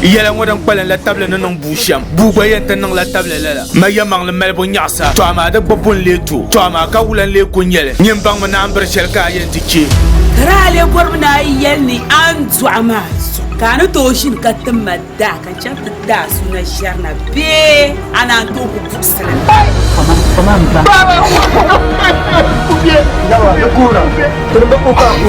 yɛla ŋɔ din kpalim la tabili ni niŋ buu shɛm buu gba yɛn ti niŋla tabili lala ma yɛmaŋli malibu nyaɣasa to amaa di gba bun lee to to amaa ka wula n lee ku nyɛli nyin baŋmi naan biri shɛli ka a yɛn ti chɛ ka daa lee bɔrimi ni a yi yɛli ni a ni dɔɣi maa zuɣu Ka a ni tooi ʒini ka ti ma daa ka chani ti ti a suna ʒiɛri na bee a naan tooi ku buɣisiri li?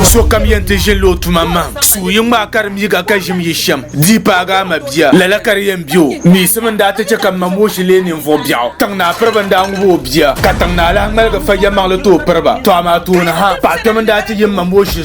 Sokam yɛn ti ʒinila o tuma mahim. Sua yi ŋmaai ka di mi ka ka ʒim yi shɛm, di yi paagi a ma bia, lala ka di yɛn be o. Miisimi n-daa ti chɛ ka m ma Mooshi leei ninvuɣ biɛɣu. Tiŋ naa piriba n-daa ŋub o bia, ka tiŋ naa lahi ŋmaligi fa yɛlimaŋli tooi piri ba. Tɔ amaa tooni ha, paɣikpɛma n-daa ti yi m ma Mooshi zuɣu.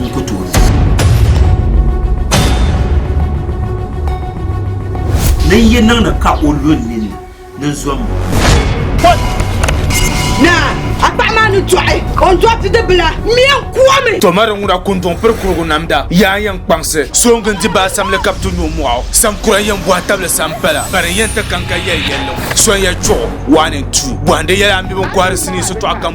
n ku tooi ʒiya. Ni n yi niŋdi ka o lu n ninni ni n zombo. Naa, a paɣa maa ni dɔɣi, o ni dɔɣi bidibila, m mi yɛn kuomi. To mari ŋuna ku n-dɔŋ piri kurigu namda. Yaa yɛn kpaŋsi, sooŋgi n-di ba asamli ka bɛ ti nyu mɔɣu. Saŋkura yɛn bɔhi tabili sampala, bari n yɛn ti kaŋ ka yɛli yɛlli ŋɔ. Sonya chuɣu, waani n-tu, bɔhindi yɛla a mi bɛ ni kɔhiri sinii sitɔɣu kam.